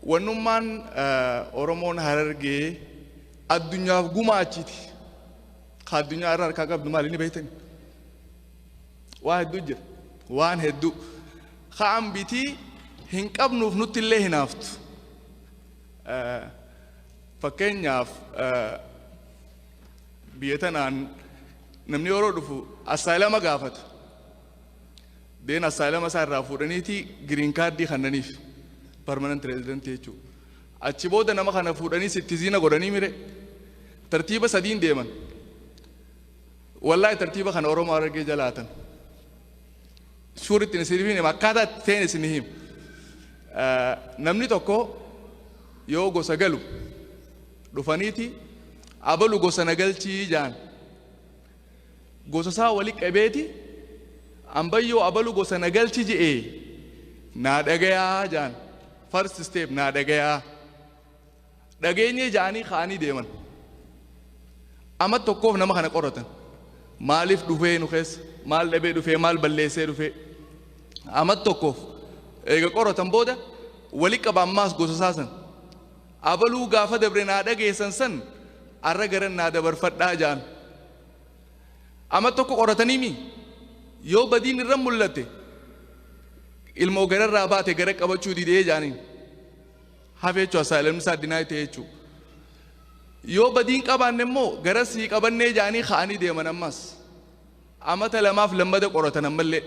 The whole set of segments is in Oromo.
Wannummaan Oromoon Harargee addunyaaf gumaachiti. Ka addunyaa irra harkaa qabdu maali ni beektan? Waa hedduu jira. Waan hedduu. Ka ambitii hin qabnuuf nutti illee hinaaftu. Fakkeenyaaf biyya tanaan namni yeroo dhufu assaayilama gaafata. Deen asylama isaa irraa fuudhaniiti green card kannaniif permanent resident jechuu. Achi booda nama kana fuudhanii sittizina godhanii mire tartiiba sadiin deeman. Wallahi tartiiba kana Oromoo Harargee jalaatan. Suuritti isin hima akkaataa itti ta'een isin hima. Namni tokko yoo gosa galu dhufaniiti abalu gosa na galchii jaan. gosasaa wali qabeeti ambayyoo abalu gosa na galchi je'e naa dhagayaa ja'an first step naa dhagayaa dhageenyee ja'anii ka'anii deeman amat tokkoof nama kana qoratan maaliif dhufee nu keessa maal dhabee dhufee maal balleessee dhufee amat tokkoof eega qoratan booda wali qaba ammaas gosasaa san Abaluu gaafa dabre naa dhageessan san arra garan naa dabarfadhaa ja'an. Ama tokko qoratanii mi? Yoo badiin irra mullatte ilmoo gararraa baate gara qabachuu didee ja'aniin. Hafe jechuu asylum isaa deny ta'e jechuu. Yoo badiin qabaanne immoo gara sii qabannee ja'anii ka'anii deeman ammas. Amata lamaaf lammada qoratan ammallee.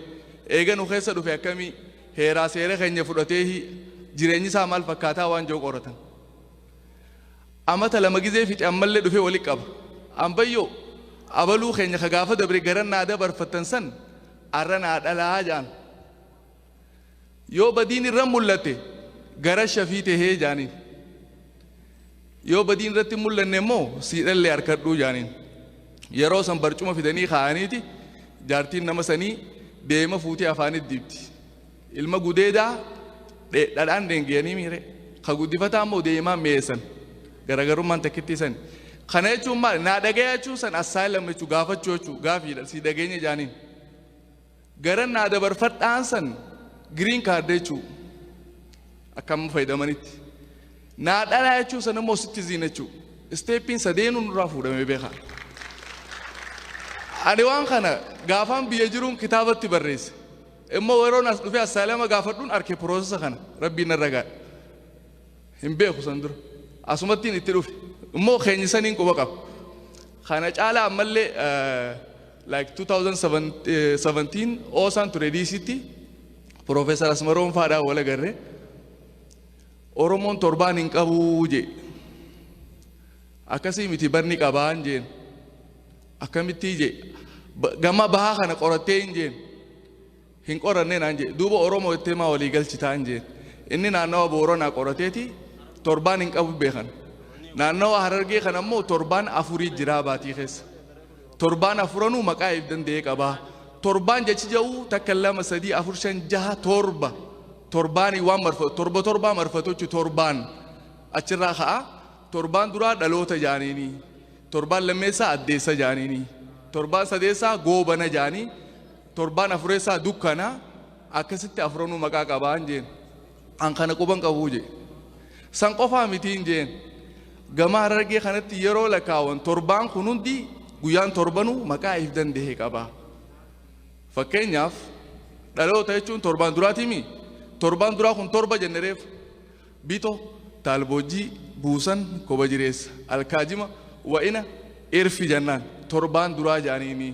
Eega nu keessa dhufe akkamii, heeraa seera keenya fudhateehii, jireenyi isaa maal fakkaataa waan je'u qoratan. Amata lama gizee fixe ammallee dhufee walitti qaba. Ambayyoo! Abaluu keenya ka gaafa dabre garan naa dabarfattan san arra naa dhalaa ja'an. Yoo badiin irra mul'atte gara shafii tahee jaaniin. Yoo badiin irratti hin mul'anne immoo siidhallee harkadhuu jaaniin. Yeroo san barcuma fidanii kaa'aniiti jaartiin nama sanii beema fuutee afaanitti dibdi. Ilma gudeedaa dhadhaan dheengiyanii miire. Ka guddifataa immoo deemaan mi'eessan. Garaagarummaan takkittii sani. Kana jechuun maali? Naa dhagaya jechuun san asylum jechuun gaafachuu jechuun gaafiidha. Si dhageenya jaaniin. Garan naa dabarfadhaan san green card jechuu akka amma fayyadamanitti naa dhalaa jechuu san immoo citizen jechuu isteeppiin sadeenuu nurraa fuudhamee beekaa. Ani waan kana gaafaan biyya jiruun kitaabatti barreesse immoo yeroon as dhufee assaalama gaafadhuun arke piroosesa kana rabbiin narra gaadha. Hin beeku san dura asumattiin itti dhufe immoo keenyisaniin quba qaba. Kana caalaa ammallee Like 2017 Oosaan ture DCtti Professor Asmaroom faadhaan wal agarre Oromoon torbaan hin qabuu jee akkasii miti barni qabaan jeen akkamittii jee gama bahaa kana qorattee hin jeen hin qoranne naan jedhe. Duuba Oromoo jettee maa walii galchitaan jeen. Inni naannawa Booranaa qorateeti torbaan hin qabu beekan. Naannawa Harargee kana immoo torbaan afurii jiraa baatii keessa. Torbaan afuranuu maqaa if danda'ee qabaa. Torbaan jechi ja'uu takka lama sadii afur shan jaha torba. Torbaanii waan marfatu torba torbaa marfatu jechuun torbaan achirraa ka'a. Torbaan duraa dhaloota jaaniini. Torbaan lammeessaa addeessa jaaniini. Torbaan sadeessaa goobana jaanii. Torbaan afureessaa dukkana akkasitti afuranuu maqaa qabaan jeen. An kana quban qabuu jee. San qofaa mitiin jeen. Gama harargee kanatti yeroo lakaawan torbaan kun hundi guyyaan torbanuu maqaa if danda'e qaba. Fakkeenyaaf dhaloota jechuun torbaan duraatiimi. Torbaan duraa kun torba jenne reef. Bito, taalboojjii, buusan, koba jireessa, alkaajima, wa'ina, irfi jennaan torbaan duraa jaaniini.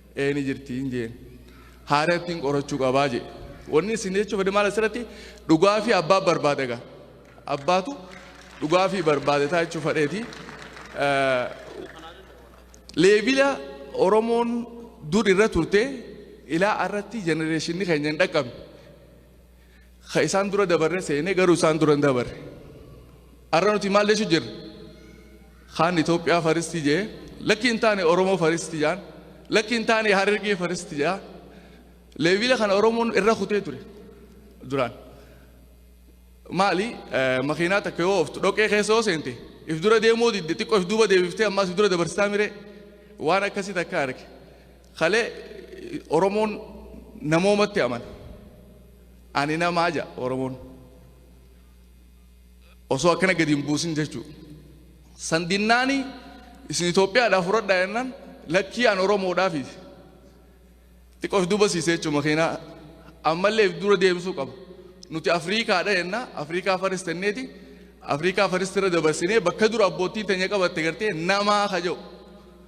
Ee ni jirti hin jeen. Haarattiin qorachuu qabaa jee. Wanni isin jechuu fedhe maal asirratti dhugaa fi abbaa barbaada gaa. Abbaatu dhugaa fi barbaade taa jechuu fedheeti. Leebila Oromoon dur irra turte ilaa irratti jenereeshinni keenya hin dhaqqabne. Ka isaan dura dabarre seene garuu isaan dura hin dabarre. Arra nuti maal jechu jirra? Kaan Itoophiyaa faristii jee lakki hin taane Oromoo faristii jaan lakki hin taane Harargee faristii jaa leevila kana Oromoon irra kutee ture duraan. Maali makiinaa takka yoo ooftu dhoqee keessa yoo seente if dura deemuu didde xiqqoo if duuba deebiftee ammaas if dura dabarsitaa miree waan akkasii takka arge. Kalee Oromoon namoomatti amana. Ani namaa ja Oromoon. Osoo akkana gadi hin buusin jechuu. San dinnaani isin Itoophiyaadhaa fudhadhaa jennaan lakkii an Oromoodhaafi. Xiqqoo if duuba siisee jechuun makiinaa ammallee if dura deemsuu qaba. Nuti Afriikaadha jennaa Afriikaa faris tenneeti Afriikaa faris irra dabarsinee bakka dura abbootiin teenya qabatte gartee namaa ka jedhu.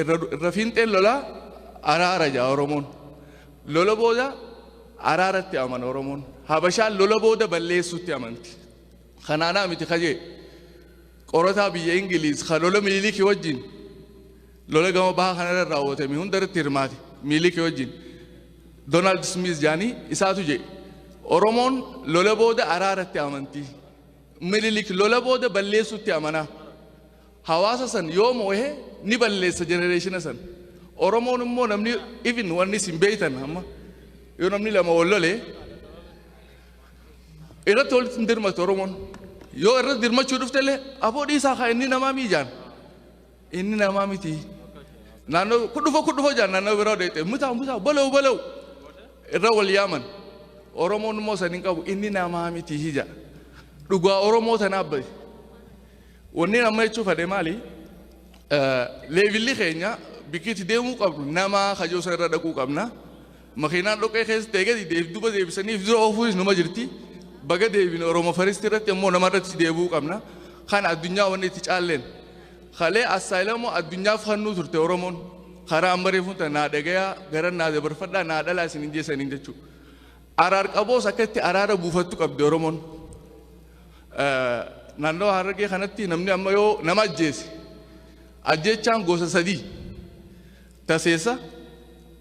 irra irra fiinxeen lolaa araara ja'a Oromoon. Lola booda araaratti amana Oromoon. Habashaan lola booda balleessuutti amanti. Kanaanaa miti kajee qorataa biyya Ingiliiz kan lola Miniliki wajjin lola gama baha kanarra raawwatame hundarratti hirmaate Miniliki wajjin Doonaald Smiiz jaanii isaatu jedhe. Oromoon lola booda araaratti amanti. Minilik lola booda balleessuutti amanaa. Hawaasa san yoo moohe ni balleessa generationa san. Oromoon immoo namni even wanni isin beeytan amma yoo namni lama wal lole irratti walitti hin dirmatu Oromoon. Yoo irratti dirmachuu dhufte illee aboo dhiisaa haa inni namaa mii jaan. Inni namaa miti. Naannoo kudhufoo kudhufoo jaan naannoo biraa deettee mutaa mutaa balaw balaw irra wal yaaman. Oromoon immoo san hin qabu inni namaa miti hija. Dhugaa Oromoo tanaaf bahe. Wanni amma jechuu fadhe maali? Leevilli keenya bikki itti deemuu qabnu nama kajoo sana irra dhaquu qabna. Makiinaan dhoqqee keessa ta'e gadi deef duba deebisanii dura oofuunis numa jirti. Baga deebine Oromo First irratti immoo nama irratti deebi'uu qabna. Kan addunyaa wanni itti caalleen. Kalee assaayilamoo addunyaaf hannuu turte Oromoon. Karaa amma reefuun ta'e naa dhagayaa gara naa dabarfadhaa naa dhalaa isin hin jeesaniin jechuudha. Araar qaboos akka itti araara buufattu qabdi Oromoon. Naannawa Harargee kanatti namni amma yoo nama ajjeese ajjechaan gosa sadii taseessa,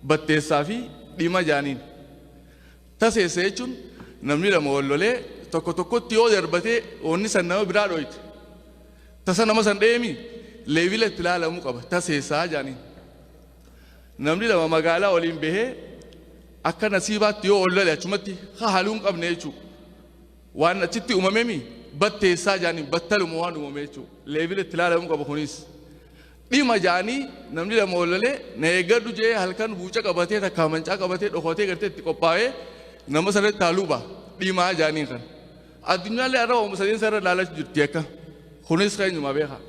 batteessaa fi dhima jaaniin. Taseessa jechuun namni lama wal lolee tokko tokkotti yoo darbatee wanni san nama biraa dhooyte. Tasa nama san dheemi leebila itti ilaalamuu qaba taseessaa jaaniin. Namni lama magaalaa waliin bahee akka nasiibaatti yoo wal lole achumatti haaluu hin qabne jechuudha. Waan achitti uumame mi batteessaa jaaniin battaluma waan uumame jechuudha. Leevila itti ilaalamuu qabu kunis. Dhima jaanii namni lama oolalee na eeggadhu jee halkan buuca qabatee takkaa mancaa qabatee dhokatee gartee itti qophaa'ee nama sanatti taaluuba dhimaa jaaniin kan. Addunyaallee arra waamuma sadeen sarara ilaalaa jirti akka. Kunis keenyuma beekaa.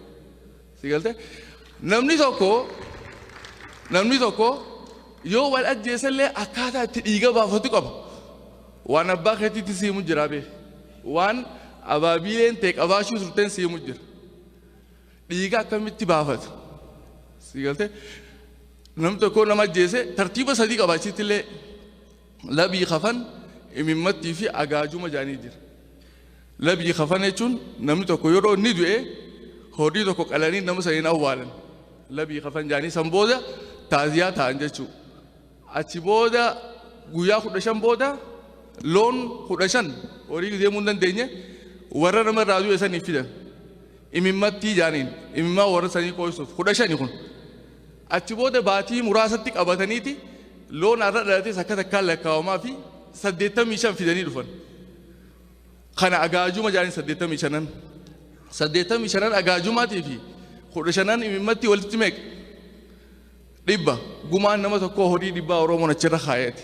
Si galtee? Namni tokko namni tokko yoo wal ajjeesallee akkaataa itti dhiiga baafatu qaba. Waan abbaa keetiitti siimu jira bee. Waan abaabiileen ta'e qabaachuu turteen siimu jira. Dhiiga akkamitti baafatu? Si galtee? Namni tokko nama ajjeese tartiiba sadii qaba achitti illee labii kafan imimmattii fi agaajuma jaanii jira. Labyi kafana jechuun namni tokko yeroo inni du'e horii tokko qalanii nama sana hin awwaalan. Labyi kafan jedhanii san booda taaziyaa ta'an jechuudha. Achi booda guyyaa kudha shan booda loon kudha shan horii deemuu hin dandeenye warra nama irraa du'e saniif fidan. Imimmattii jedhaniin imimmaa warra sanii qooysuuf kudha shani kun. Achi booda baatii muraasatti qabataniiti loon har'a dhalates akka takkaan lakkaawamaa fi saddeettamii shan fidanii dhufan. kana agaajuma jaaniin saddeettamii shanan saddeettamii shanan agaajumaatii fi kudha shanan imimmatti walitti meeqa dhibba gumaan nama tokkoo horii dhibbaa oromoon achirra kaayate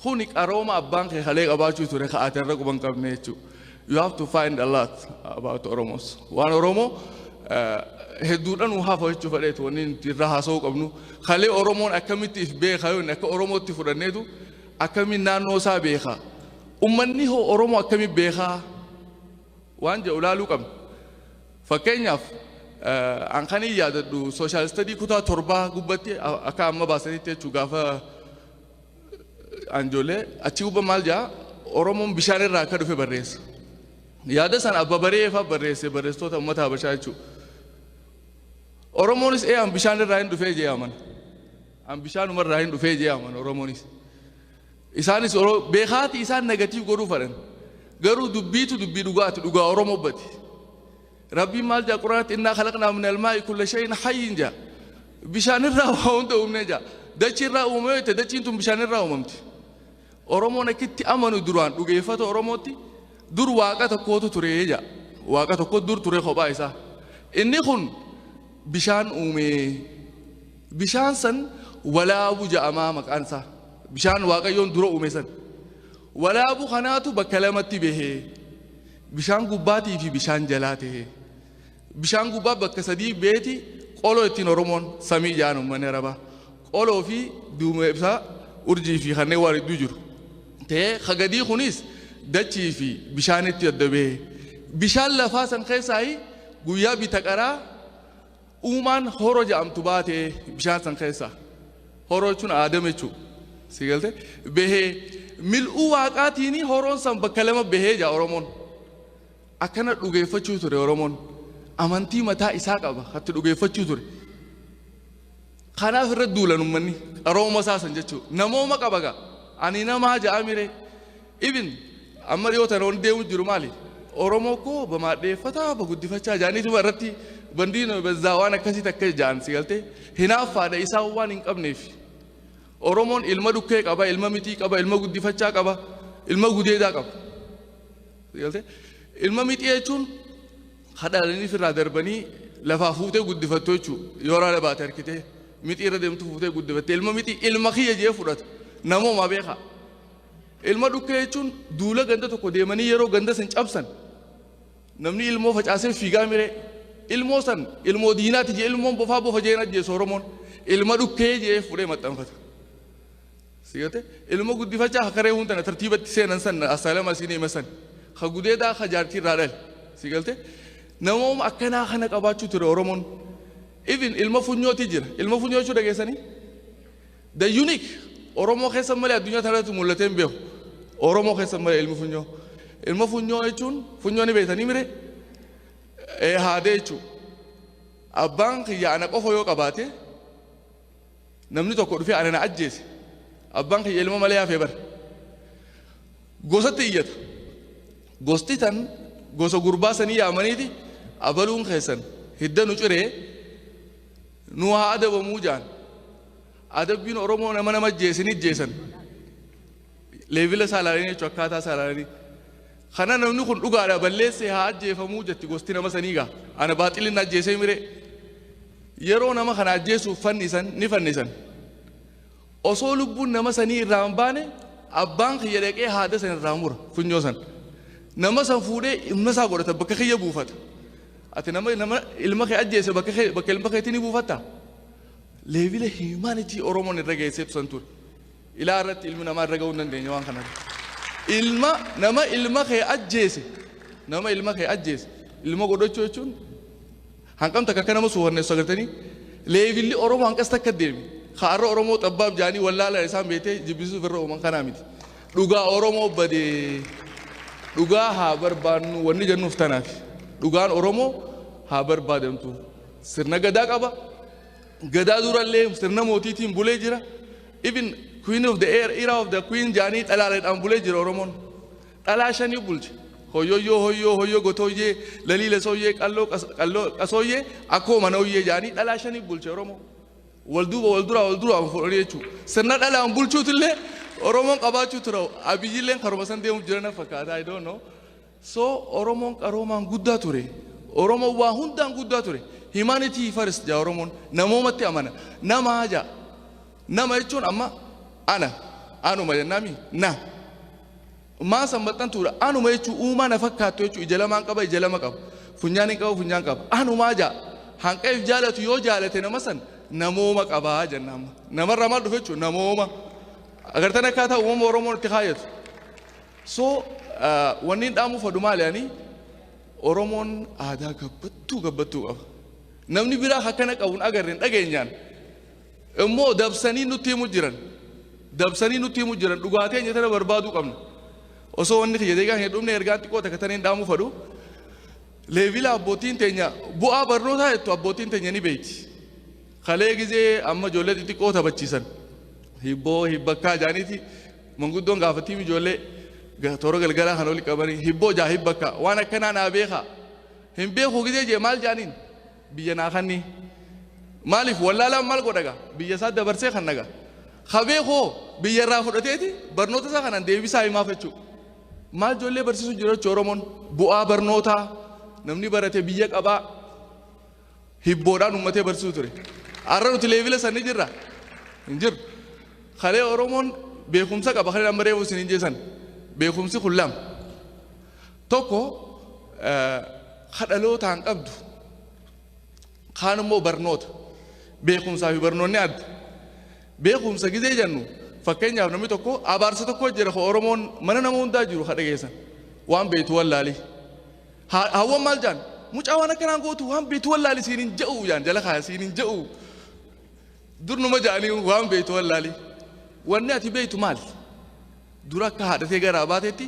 kuni qarooma abbaan kee kalee qabaachuu ture ka'aate irra quban qabne jechuudha you have to find a lot about oromos waan oromoo eh, hedduudhaan nu hafa jechuu fadheetu wanni nuti irra haasa'uu qabnu kalee oromoon akkamitti if beeka yoo inni akka oromootti fudhanneetu akkamiin naannoo isaa beeka? Ummanni hoo Oromoo akkamiin beekaa? Waan jedhu ilaaluu qabna. Fakkeenyaaf eh, an kan hin yaadadhu sooshaal istadii kutaa torbaa gubbatti a- akka amma baasanitti jechuun gaafa anjolee achi gubba maal jaa Oromoon bishaan irraa akka dhufe barreessa. Yaada sana abba baree fa'aa barreesse barreessitoota uummata Habashaa jechuudha. Oromoonis eeyaan bishaan irraa hin dhufee jee amana. An bishaanuma irraa hin dhufee jee aman Oromoonis. Isaanis Oro- beekaati isaan negatiiv godhuu fadhan. Garuu dubbiitu dubbii dhugaati dhugaa Oromoo bati. Rabbiin maal jaa quraanatti innaa kalaqnaa min almaa'i kulla shayin hayyin jaa. Bishaan irraa waa hunda uumne jaa. Dachii irraa uumame yoo jette dachiin tun bishaan irraa uumamti. Oromoon akkitti amanu duraan dhugeeffata Oromootti dur waaqa tokkootu ture jaa. Waaqa tokko dur ture kophaa isaa. Inni kun bishaan uumee Bishaan san walaabu ja'amaa maqaan isaa. Bishaan Waaqayyoon dura uume san. Walaabu kanaatu bakka lamatti bahee. Bishaan gubbaatii fi bishaan jalaa ta'ee. Bishaan gubbaa bakka sadii beeti qoloo ittiin Oromoon samii ja'an uummanni Arabaa. Qoloo fi duumee ibsaa urjii fi kanneen waan hedduu jiru. Ta'ee hagadii kunis dachii fi bishaanitti adda bahee. Bishaan lafaa san keessaa guyyaa bita qaraa Uumaan horo ja'amtu baate bishaan san keessaa. Horo jechuun Aadam jechuu. Si galte? Behee. Mil'uu waaqaatiini horoon san bakka lama behee ja'a Oromoon. Akkana dhugeeffachuu ture Oromoon. Amantii mataa isaa qaba. Hatti dhugeeffachuu ture. Kanaaf irra duulan ummanni qarooma isaa san jechuu namooma qaba gaa ani namaa ja'amiree ibin amma dhiyoo tana wanti deemu jiru maali oromoo koo bamaadheeffataa baguddifachaa ja'aniituma irratti bandii bazzaa waan akkasii takka ja'an si galtee hinaaffaadha isaan waan hin qabneef oromoon ilma dhukkee qaba ilma mixii qaba ilma guddifachaa qaba ilma gudeedaa qaba si galtee ilma mixii jechuun Ka dhalanii firraa darbanii lafaa fuutee guddifattu jechuu yoo raada baate harkitee mixii irra deemtu fuutee guddifatte ilma mixii ilma kiyya jee fudhatu namoomaa beekaa. Ilma dhukkee jechuun duula ganda tokko deemanii yeroo ganda san cabsan namni ilmoo facaasee fiigaa miree ilmoo san ilmoo diinaati jee ilmoon bofaa bofa jeen ajjeesu Oromoon ilma dhukkee jee fudhee maxxanfata. Sigate ilmo guddifachaa ka karee huntana tartiibatti seenan san asaalama siin hima san ka gudeedaa ka jaartii irraa dhale sigalte namooma akkanaa kana qabaachuu ture oromoon even ilma funyooti jira ilma funyoo jechuu dhageessanii the unique oromoo keessa malee addunyaa tanarratti mul'atee hin beeku oromoo keessa malee ilmi funyoo ilma funyoo jechuun funyoo ni beektanii mire ee haadee jechuu abbaan kiyya ana qofa yoo qabaate Namni tokko dhufee ana na ajjeese. Abbaan kiyya ilma malee hafee bar. Gosatti iyyata. Gosti tan gosa gurbaa sanii yaamaniiti abaluun keessan hidda nu ciree nu haa adabamuu jaan. Adabbiin Oromoo nama nama ajjeese ni ajjeesan. Leevila isaa ilaalanii jechuun akkaataa isaa ilaalanii. Kana namni kun dhugaadha balleesse haa ajjeefamuu jetti gosti nama sanii gaa ana baaxilin na ajjeesee miree yeroo nama kana ajjeesuuf fannisan ni fannisan osoo lubbuun nama sanii irraa hin baane abbaan kiyya dhaqee haada san irraa mura funyoo san nama san fuudhee ilma isaa godhata bakka kiyya buufata ati nama nama ilma kee ajjeese bakka kee bakka ilma keetii ni buufatta leebila himaanitii oromoon irra geesseetu san ture. Ilaa irratti ilmi namaa irra ga'uu hin dandeenye waan kana irratti. Ilma nama ilma kee ajjeese nama ilma kee ajjeese ilma godhachuu jechuun hanqam takka akka nama suufanneessu agartanii leevilli Oromoo hanqas takka deemi. Kaarra Oromoo xabbaaf jaanii wallaalaan isaan beetee jibbisiisuuf irra uuman kanaa miti. Dhugaa Oromoo badee dhugaa haa barbaannu wanni jennuuf tanaaf dhugaan Oromoo haa barbaadamtu sirna gadaa qaba. Gadaa durallee sirna mootiitiin bulee jira. Even queen of the air era of the queen jaanii dhalaaleedhaan bulee jira Oromoon. Dhalaa shanii bulche. Hoyyoyyoo hoyyoo hoyyoo gotooyyee lalii lesooyyee qalloo qas- qalloo qasooyyee akkoo manooyyee jaanii dhalaa shanii bulche Oromoo. Wal duuba wal duraa wal duraa fuudhanii jechuudha. Sirna dhalaan bulchuutillee Oromoon qabaachuu tura. Abiyyilleen karuma san deemuuf jirana fakkaata. I don't know. So Oromoon qaroomaan guddaa ture. Oromoon waa hundaan guddaa ture. Humanity first jaa Oromoon. Namoomatti amana. Namaa jaa. Nama jechuun amma ana. Anuma jennaami. Na. Maa san maxxantuudha. Anuma jechuun uumaa na fakkaattu jechuun ija lamaan qaba ija lama qaba. Funyaan hin qabu funyaan qaba. Anumaa jaa. Hanqeef jaalatu yoo jaalate nama san namooma qabaa jenna amma. Namarraa maal dhufe jechuun namooma. Agartan akkaataa uumama Oromoon itti kaayatu. So wanniin dhaamuu fadhu maali ani Oromoon aadaa gabbattuu gabbattuu qaba. Namni biraa akkana qabu hin agarre hin dhageenyaan immoo dabsanii nutti himu jiran dabsanii nutti himu jiran dhugaa teenya tana barbaaduu qabna. Osoo wanni kiyya deegaa hin dhumne ergaan xiqqoo takka taniin dhaamuu fadhu. Leevila abbootiin teenya bu'aa barnootaa jettu abbootiin teenya ni beeyti. Kalee gizee amma ijoollee xixiqqoo taphachiisan hibboo hibbakkaa jaaniiti manguddoon gaafattiif ijoollee ga- toora galgalaa kan oli qabanii hibboo jaa hibbakkaa waan akkanaa naa beekaa hin beekuu gizee jee maal jaaniin biyya naa kannii maaliif wallaalaan maal godhaga biyya isaa dabarsee kan naga ka beekoo biyya irraa fudhateeti barnoota isaa kanan deebisaa himaaf jechuu maal ijoollee barsiisu jiraachuu oromoon bu'aa barnootaa namni barate biyya qabaa hibboodhaan uummatee barsiisu ture. Har'a nuti leevila san ni jirra? Hin jirru. Kalee Oromoon beekumsa qaba kalee amma reefu isin hin jeesan. Beekumsi kun lama. Tokko ka dhalootaan qabdu kaan immoo barnoota. Beekumsaa fi barnoonni adda. Beekumsa gizee jennu fakkeenyaaf namni tokko abaarsa tokko jira ka Oromoon mana nama hundaa jiru ka dhageessan waan beektu wallaalii. Haa, haawwan maal jaan? Mucaa waan akkanaan gootu waan beektu wallaali siin hin ja'u jaan jala kaaya siin hin ja'u. Durnuma ja'anii waan beektu wallaali. Wanni ati beektu maal? Dura akka haadhatee garaa baatetti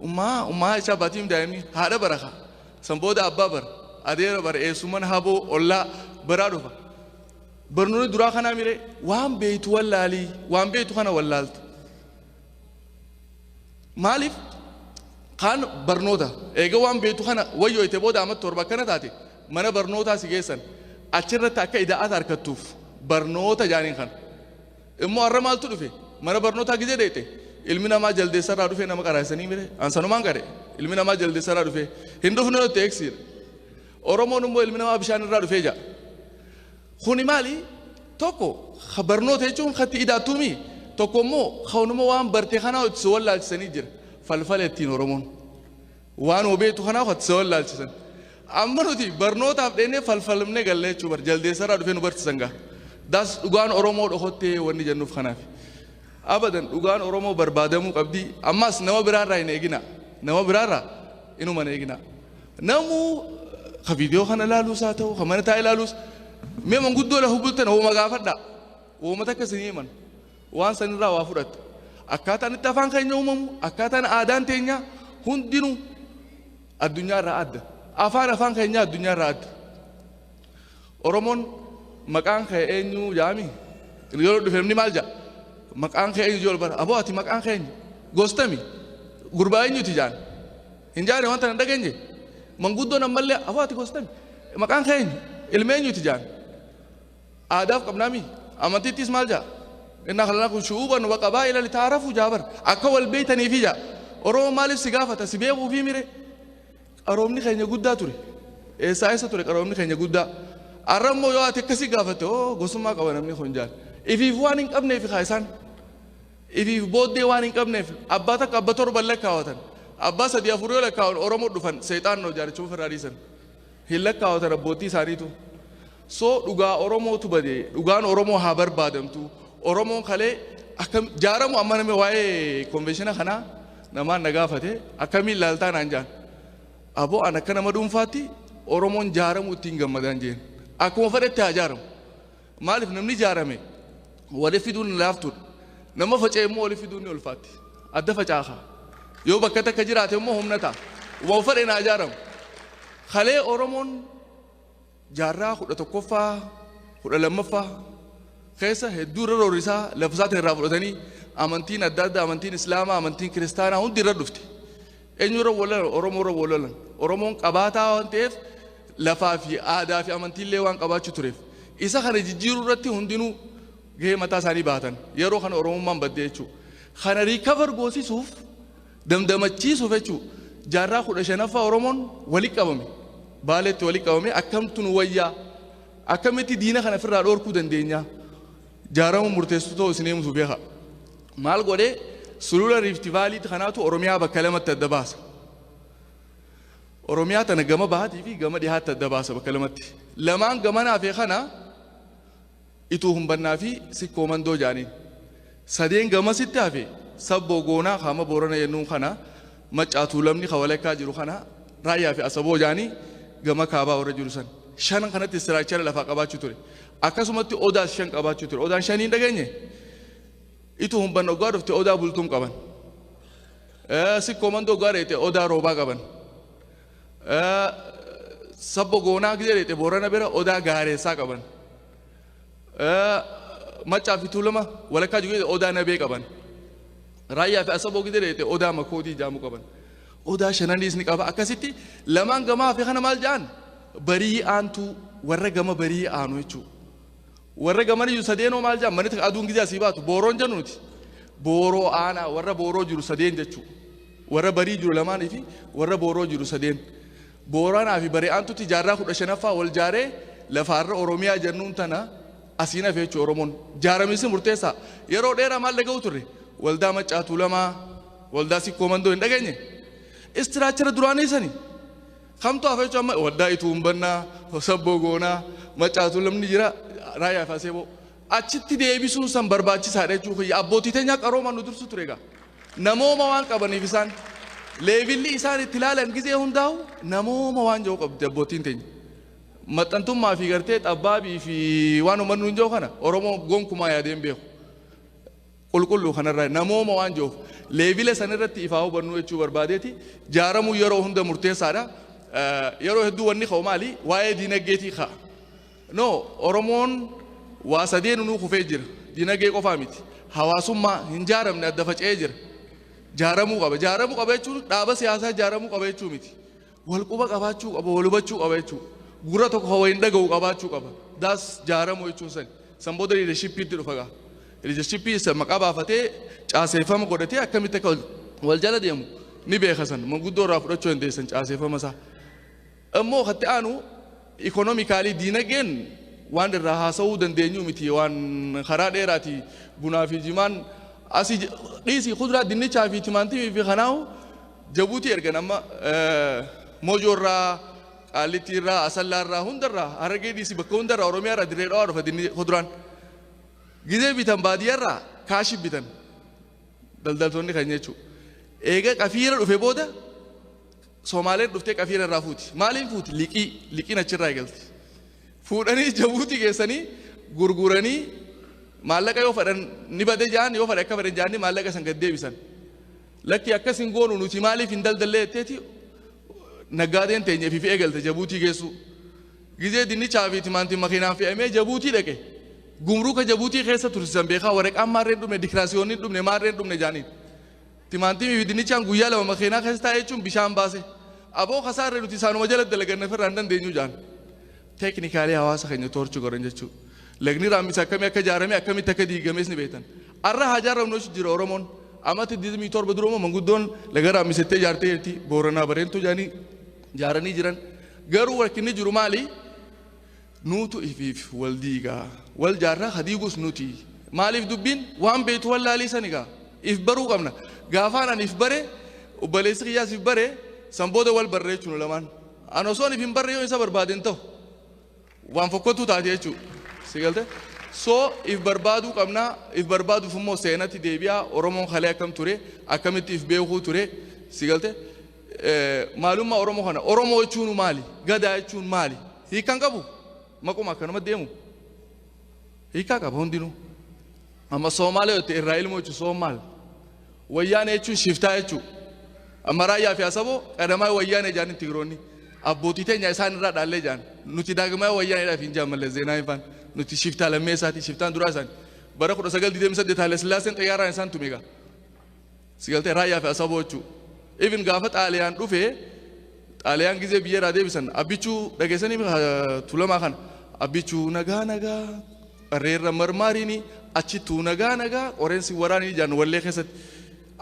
ummaa ummaa isaa baatiim daa'imni haadha bara kaa. San booda abbaa bara adeera bara eessumman haboo ollaa baraa dhufa. Barnoonni duraa kanaa miree waan beektu wallaali waan beektu kana wallaalta. Maaliif kaan barnoota eega waan beektu kana wayyooyte booda amma torba akkana taate mana barnootaa si geessan achirratti akka ida'aata harkattuuf barnoota jaaniin kana. Immoo har'a maaltu dhufe mana barnootaa gizee deete ilmi namaa jaldeessarraa dhufee nama qaraasanii mire ansanumaan qare ilmi namaa jaldeessarraa dhufee hin dhufne nutti eegsiidha. Oromoon immoo ilmi namaa bishaan irraa dhufee ja'a. Kuni maali? Tokko ka barnoota jechuun ka itti idaattuu mii? Tokko immoo kaunuma waan barte kanaa itti si wallaalchisanii jira. Falfala ittiin Oromoon. Waan obeetu kanaa itti si wallaalchisan. Amma nuti barnootaaf dheennee falfalmne gallee jechuu bar jaldeessarraa dhufee nu barsiisan gaa. Daas dhugaan Oromoo dhokottee wanni jennuuf kanaaf. Abadan dhugaan Oromoo barbaadamuu qabdi. Ammaas nama biraarraa hin eegina. Nama biraarraa inuma hin eegina. Namuu ka viidiyoo kana ilaaluus haa ta'u, ka mana taa'ee ilaaluus mee manguddoo lafa bultan hooma gaafadhaa. Hooma takka isin himan. Waan sanirraa waa fudhatta. Akkaataan itti afaan keenya uumamu, akkaataan aadaan teenya hundinuu addunyaarraa adda. Afaan afaan keenyaa addunyaarraa adda. Oromoon maqaan kee eenyu jaami? Yeroo dhufe namni maal jaa? Maqaan kee eenyu jee ol bara. Aboo ati maqaan kee eenyu? Gostami? Gurbaa eenyuti jaan? Hin jaane wanta hin dhageenye manguddoon ammallee afoo ati gostan maqaan kee eenyu ilma eenyuti jaan aadaaf qabnaami amantiittis maal jaa inna khalaqakum shu'uuban wa qabaa'ila litaarafu jaabar akka wal beeytaniifi jaa oromoo maaliif si gaafata si beekuufi mire qaroomni keenya guddaa ture eessaa eessa ture qaroomni keenya guddaa arra immoo yoo ati akkasii gaafatte oo gosummaa qaba namni kun jaan ifiif waan hin qabneefi kaa isaan Ifiif booddee waan hin qabneef abbaa takka abba torban lakkaawatan abbaa sadii afur yoo lakkaawan oromo dhufan seexaan noo jaarichuma ofirraa dhiisan hin lakkaawatan abboottii isaaniitu so dhugaa oromootu bade dhugaan oromoo haa barbaadamtu oromoon kalee akka jaaramu amma nama waa'ee konveeshina kanaa namaan na gaafate akkamiin laaltaa naan jaan aboo an akka nama dhuunfaatti oromoon jaaramu ittiin gammadaan jeen akkuma fedhetti haa jaaramu Maaliif namni ijaarame wali fiduun laaftuudha. Nama faca'e immoo wali fiduun ni ulfaatti. Adda facaaha. Yoo bakka takka jiraate immoo humna ta'a. Waan fedhe naa ijaaramu. Kalee Oromoon jaarraa kudha tokkoffaa kudha lammaffaa keessa hedduu irra roorrisaa lafa isaatiin irraa fudhatanii amantiin adda addaa amantiin islaamaa amantiin kiristaanaa hundi irra dhufte. Eenyurra wal lolan? Oromoorra wal lolan. Oromoon qabaataa waan ta'eef lafaa fi aadaa fi amantiillee waan qabaachuu tureef isa kana jijjiiruu irratti hundinuu gahee mataa isaanii bahatan yeroo kana Oromummaan badde jechuudha. Kana riikavar goosisuuf damdamachiisuuf jechuudha. Jaarraa kudha shanaffaa Oromoon wali qabame baaleetti wali qabame akkamtu nu wayyaa akkamitti diina kana ofirraa dhoorkuu dandeenya Jaaramuun murteessu ta'u isin eemtu beeka. Maal godhe sulula Riifti Vaaliitti kanaatu Oromiyaa bakka lamatti adda baasa. Oromiyaa tana gama bahaatii fi gama dhihaatti adda baasa bakka lamatti. Lamaan gamana hafee kana ituu humbannaa fi sikkoo mandoo jaaniin. Sadeen gamasitti hafe sabboo goonaa kaama boorana jennuun kana Maccaa Tuulamni ka walakkaa jiru kana Raayyaa fi Asaboo jedhanii gama kaabaa warra jiru san. Shanan kanatti istiraakchara lafaa qabaachuu ture. Akkasumatti Odaas shan qabaachuu ture. Odaan shanii hin dhageenye? Itu humban oggaa dhufte Odaa Bultum qaban. Eh, Sikkoo Mandoo oggaa dheete Odaa Roobaa qaban. Eh, Sabbo Goonaa gidee dheete Boorana bira Odaa Gaareessaa qaban. Maccaa fi Tuulama walakkaa jiru jechuudha. Odaa Nabee qaban. Raayyaa fi Asaboo gidira jechuudha. Odaa Makoodii jaamu qaban. Odaa Shananiis ni qaba. Akkasitti lamaan gamaa fi kana maal ja'an? Barii aantuu warra gama barii aanu jechuudha. Warra gaman iyyuu sadeenoo maal ja'an? Manitti aduun gizee asii baatu booroon jennu nuti. Booroo aanaa warra booroo jiru sadeen jechuudha. Warra barii jiru lamaanii fi warra booroo jiru sadeen. Booranaa fi Bari'aantutti jaarraa 15ffaa wal jaaree lafa arra Oromiyaa jennuun tana asiin hafe jechuudha Oromoon. Jaaramiinsi murteessaa. Yeroo dheeraa maal dhaga'u turre? Waldaa Maccaa Tuulamaa, Waldaa Sikkoo Mandoo hin dhageenye? Istiraachara duraanii sani. Kamtu hafe jechuun amma Waldaa Ituun Bannaa, Hosabboo Goonaa, Maccaa Tuulamni jira, Raayyaa fi Aseeboo. Achitti deebisuun san barbaachisaadha jechuu kiyya. Abbootii teenyaa qaroomaan nu dursu ture egaa. Namooma waan qabaniif isaan leevilli isaan itti ilaalan gizee hundaa'u namooma waan jiru qabdi abbootiin teenya. Maxxantummaa fi gartee xabbaabii fi waan uummanni nuun jiru kana Oromoo gonkumaa yaadee hin beeku. Qulqulluu kanarraa namooma waan jiruuf leevila san irratti ifaa hubannuu jechuu barbaadeeti jaaramuu yeroo hunda murteessaadha. Yeroo hedduu wanni ka'u maali waa'ee diinagdeetii ka'a. No, Oromoon waa sadeenunuu kufee jira. Dinagee qofaa miti. Hawaasummaa hin jaaramne adda faca'ee jira. Jaaramuu qaba. Jaaramuu qaba jechuun dhaaba siyaasaa jaaramuu qaba jechuu miti. Wal quba qabaachuu qaba, wal hubachuu qaba jechuu. Gurra tokko kan waliin dhaga'u qabaachuu qaba. Daas jaaramuu jechuun sani. San booda liidershippiitti dhufa gaa. Liidershippii isa maqaa baafatee caaseeffama godhatee akkamitti akka wal- wal jala deemu ni beeka san. Manguddoo irraa fudhachuu dandeessan caaseeffama isaa. Ammoo kan itti aanu economically diinageen waan irraa haasawuu dandeenyu miti waan karaa dheeraati bunaa fi jimaan asi dhiisii kuduraa dinnichaa fi timaantimii fi kanaahu jabuutii ergan amma mojoo irraa qaallittii irraa asallaa irraa hunda irraa harargee dhiisii bakka hunda irraa oromiyaa irraa dirree dhawaa dhufa dinni kuduraan gizee bitan baadiyyaa irraa kaashi bitan daldaltoonni kan jechuu eega qafiira dhufe booda Somaaleen dhuftee qafii narraa fuuti. Maaliin fuuti? Liqii. Liqiin achirraa eegalti. Fuudhanii Jabuutii geessanii gurguranii maallaqa yoo fadhan ni bade ja'an yoo fadhe akka fadhe ja'anii maallaqa san gad deebisan. Lakkii akkas hin goonu nuti maaliif hin daldallee jetteeti naggaadeen teenya fi eegalte Jabuutii geessuu. Gizee dinnichaa fi timaantiin makiinaan fe'amee Jabuutii dhaqe. Gumruuka Jabuutii keessa tursisan beekaa waraqaan maarreen dhumne dikiraasiyoonni dhumne maarreen dhumne ja'aniin. Timaantimii fi dinnichaan guyyaa lama makeenaa keessa taa'e jechuun bishaan baase. Aboo kasaarre nuti isaanuma jala dalaganna ofirraa hin dandeenyu jedhan. Teeknikaalii hawaasa keenya toorchi godhan jechuu. Lagni raammisaa akkamii akka ijaarame akkamitti akka diigames ni beektan. Arra haa ijaarramnu jechuun jira Oromoon. Amata 27 dura immoo manguddoon laga raammisettee ijaartee jirti. Booranaa bareentuu jedhanii ijaaranii jiran. Garuu rakkinni jiru maali? Nuutu ifiif wal diiga. Wal jaarra ka diigus nuti. Maaliif dubbiin waan beektu wallaalii sani gaa. If baruu qabna. Gaafaan ani if bare obboleessi kiyyaas if bare san booda wal barre jechuun lamaan. An osoon if hin barre yoo isa barbaade hin ta'u. Waan fokkottuu taate jechuu. Si galte? So if barbaaduu qabna. If barbaaduuf immoo seenatti deebi'aa Oromoon kalee akkam ture akkamitti if beekuu ture. Si galte? maalummaa Oromoo kana Oromoo jechuun maali? Gadaa jechuun maali? Hiikan qabu? Maquma akkanuma deemu? Hiikaa qaba hundinuu. Amma Soomaalee yoo ta'e irraa ilmoo jechuun Soomaal. Wayyaanee jechuun shiftaa jechuudha. Amma raayyaa fi asaboo qadamaa wayyaanee jaaniin tigiroonni. Abbootii teenya isaan irraa dhaallee jaan. Nuti daagmaa wayyaaneedhaaf hin jaan mallee zeenaa ifaan. Nuti shiftaa lammee isaati shiftaan duraa isaani. Bara 1928 Haile Sillaaseen xiyyaaraan isaan tumeegaa. Si galtee Raayyaa fi Asaboo jechuu. Even gaafa Xaaliyaan dhufee Xaaliyaan gizee biyya irraa deebisan abbichuu dhageessanii miti, ah, tulamaa kana abbichuu nagaa nagaa qarreerra marmaariini achittuu nagaa nagaa qoreen si waraanii jaan wallee keessatti.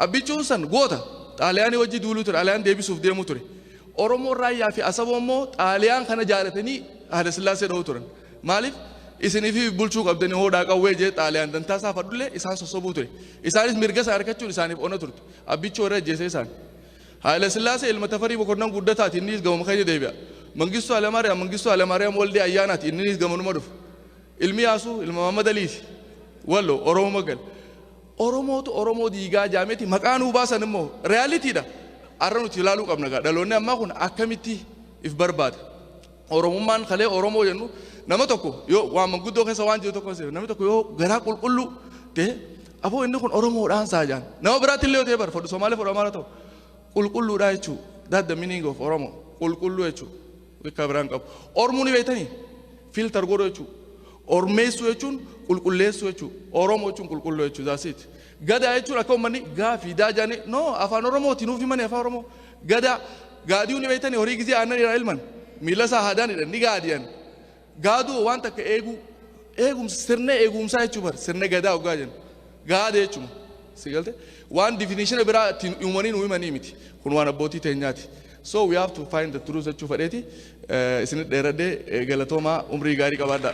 Abbichuun san goota Xaaliyaanii wajji duuluu ture Xaaliyaan deebisuuf deemuu ture. Oromoon Raayyaa fi Asaboo immoo Xaaliyaan kana jaalatanii Haayila Sillaasee dha'uu turan. Maaliif isinifi bulchuu qabdani hoodhaa qawwee jee xaaliyaan dantaa isaa fadhullee isaan sossobuu ture. Isaanis mirga isaa arkachuun isaaniif ona turte. Abbichuu irra ajjeesee isaan. Haayila Sillaasee ilma Tafarii Mokonnan guddataati inniis gamuma keenya deebi'a. Mangistuu Alamaariyaam Mangistuu Alamaariyaam Waldee Ayyaanaati inninis gamanuma dhufa. Ilmi Yaasuu ilma Maammad Aliiti. Wallo Oromuma gal. Oromootu Oromoo diigaa jaameti maqaa nuu baasan immoo reyaaliitiidha. Arra nuti ilaaluu qabna gaa dhaloonni ammaa kun akkamitti if barbaada. Oromummaan kalee Oromoo jennu nama tokko yoo waan manguddoo keessa waan jiru tokko seef namni tokko yoo garaa qulqulluu ta'e aboo inni kun Oromoodhaan saa jaan nama biraatti illee yoo ta'e bar fodhu Somaalee fodhu Amaara ta'u qulqulluudhaa jechuu that the meaning of Oromo qulqulluu jechuu bakka biraan qabu Ormuu ni beektanii filter godhu jechuu Ormeessuu jechuun qulqulleessuu jechuu Oromoo jechuun qulqulluu jechuu that's it gadaa jechuun akka uummanni gaafii daajaanii no afaan Oromooti nuuf himanii afaan Oromoo Gadaa gaadi'uu ni beektanii horii gizee aannan irraa elman miila isaa haadaanidha ni gaadi'an. Gaaduu waan takka eeguu eegumsa sirna eegumsaa jechuu bar sirna gadaa ogaa jennu gaada jechuma si galte waan definition biraa ittiin uumanii nu himanii miti kun waan abbootii teenyaati. So we have to find the truth jechuu fadheeti isinit dheeradhee galatoomaa umrii gaarii qabaadhaa.